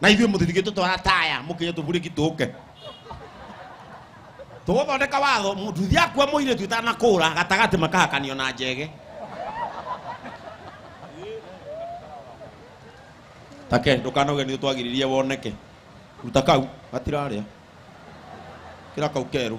na ithuĩ mũtithigĩ tũtwara taya mũkĩnye tũburĩki tũke tũgũthondeka watho nduthi akua mũirĩtu itanakũra gatagatĩ makahakanio na njege take ndũkanoge nĩ twagiririe woneke ruta kau gatirarĩa kĩra kau kerũ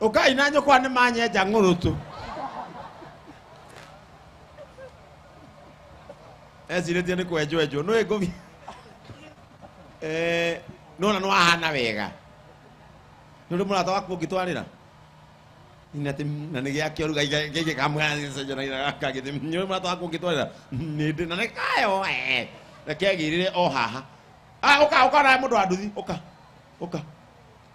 ũkai na nyũkwa nĩ manyenja ng'ũrũtũ ecirĩtie nĩ kwenjwenjwo nũĩ ngũmi Eh, nona nĩ wahana wega nĩ ũrĩ mũrata waku ũngĩtwarĩra Nĩ atĩ, na nĩ gĩakĩo rĩu gĩkĩ kamũgagagĩthĩ nĩ ũrĩ mũrata waku ũngĩtwarĩra nĩ ndĩ na nĩ kayo eh, na kegĩrĩre o haha Ah, ũka ũka nawe mũndũ wa nduthi ũka ũka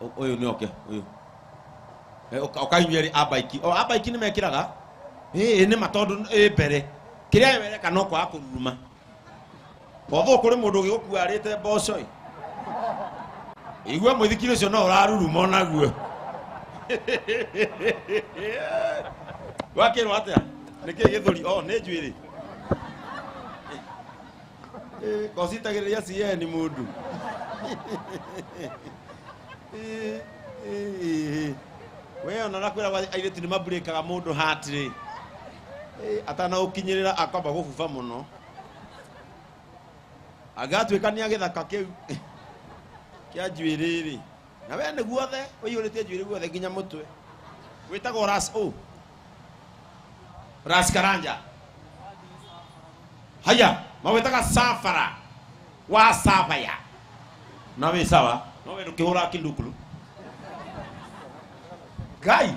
Ũ- ũyũ nĩ oke ũyũ Eh, ũka- ũkainyua rĩ abaiki o abaiki nĩ mekĩraga ĩĩ nĩ ma tondũ ĩ mbere kĩrĩa we wereka no kwaga kũruruma botho kũrĩ mũndũ ũgĩgũkuarĩte mboco ĩ igua mũithikiri ũcio no ũraruruma o naguo wakĩrwo atĩa nĩkĩ gĩthũri o nĩ njuĩrĩ Eh, gocitagĩrĩria cieni mũndũ Eh, eh, eh. we ona nakwĩragwo airĩtu nĩ mamburĩkaga mũndũ hatirĩ atanaũkinyĩrĩra akwamba gũbuba mũno angĩgatuĩka nĩ agĩthaka kĩu kĩa njuĩrĩ-rĩ na wee nĩ guothe ũiyũrĩtie njuĩrĩ guothe nginya mũtwe wĩtagwo ras o ras karanja haya mawĩtaga safara wa savaya na wĩ sawa no wĩ ndũkĩhũra kindukulu ngai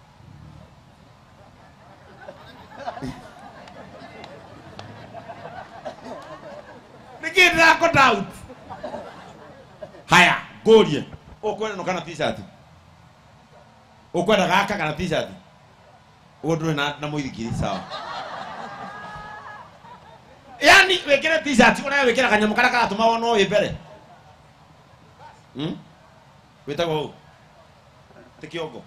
nĩkĩ ndĩrakota out haya ngũrie ũkwenda no kana t-shirt ũkwenda gaka kana t-shirt ũguo ndũrĩ na, na mũithikiri sawa yani wĩkĩre t-shirt ũnayo wĩkĩra kanyamũ karĩa karatũma wonwo wĩ mbere hmm? wĩtagwo hau ti kĩongo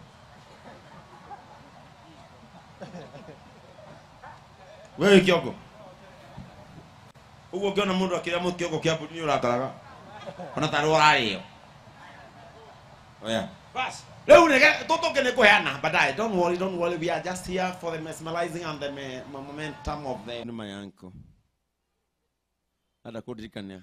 we wĩ kĩongo ũguo ũngĩona mũndũ akĩrĩa mũndũ kĩongo kĩa mbũri nĩ ũrakaraga ona tarĩ wararĩo oya basi rĩu nĩge tũtũke nĩ kũheana baadaye don't worry don't worry we are just here for the mesmerizing and the me- momentum of the nĩ mayanko hata kũndirikania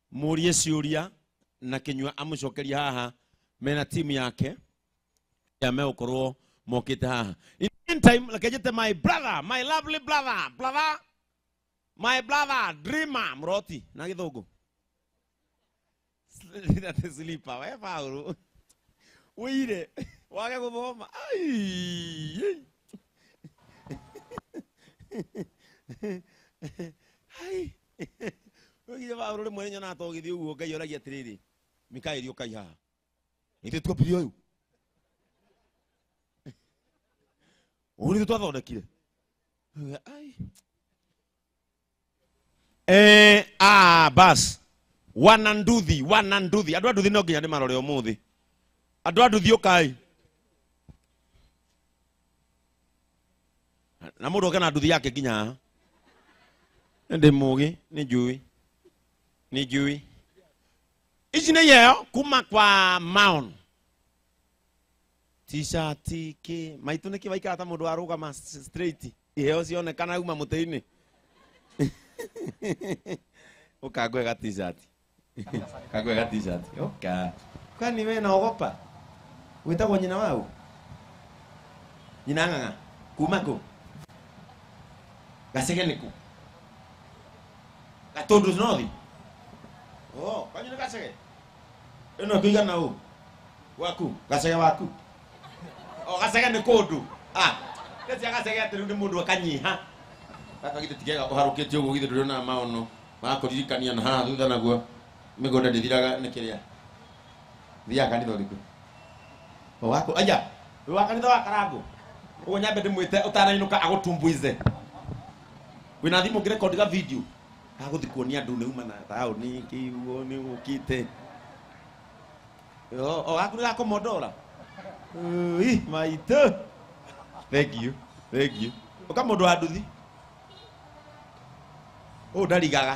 mũrie ciũria na kĩnyua amũcokerie haha mena timu yake ya megũkorwo mokĩte haha in the meantime reke njĩte my brother my lovely brother brother my brother dreamer mroti na gĩthũngũ That is sleeper we Paulo wĩire wage gũthoma Ai, ai. Ai, Ũgire Paulo rĩmwe nĩnyonaga ta ũgĩthiĩ ũguo Ngai oragia atĩrĩrĩ Mikaeli ũkai haha ithuĩ twambire ũyũ ũũ nĩthuĩ twathondekire Ngauga, "Ai." Eh, ah, bas wana nduthi wana nduthi andũ a nduthi no nginya ndĩmarore ũmũthĩ andũ a nduthi ũkai na mũndũ oke na nduthi yake nginya haha ndĩ mũgĩ nĩ njui nĩ njui ici nĩ yeo kuma kwa maon t-shirt kĩ maitũ nĩkĩ waikara ta mũndũ warũgama s- straight iheo cionekana uma mũtĩ-inĩ ũkangwe ga t-shirt kakwega t-shirt oka kwani we naogopa witagwo nyina wau nyina ng'ang'a kuma kũ gacege nĩ kũ gatũndũ nothi oh kwanyu nĩ gacege ĩno ĩkũigana ũ waku gacege waku o gacege nĩ kũndũ ah nĩcia gacege atĩ rĩu nĩ mũndũ akanyiha gaka githĩ ti kega ũharũkĩtie ũguo githĩ ndũrĩonaga maono makũririkania na haha thutha naguo mĩgũnda ndĩthiraga nĩ kĩrĩa thiaga kanitha ũrĩkũ O waku aja wĩ wa kanitha wa karangũ ũguo nyambe ndĩmwĩte ũtanainũka agũtumbuize wĩna thimũ ngĩrekondi ga video agũthi kuonia andũ nĩ uma na taũni kĩguo nĩ ũkĩte Yo, o gaku ga komodora. Ui, maitũ. Thank you. Thank you. Ũka mũndũ wa nduthi. Ũũ ndarigaga.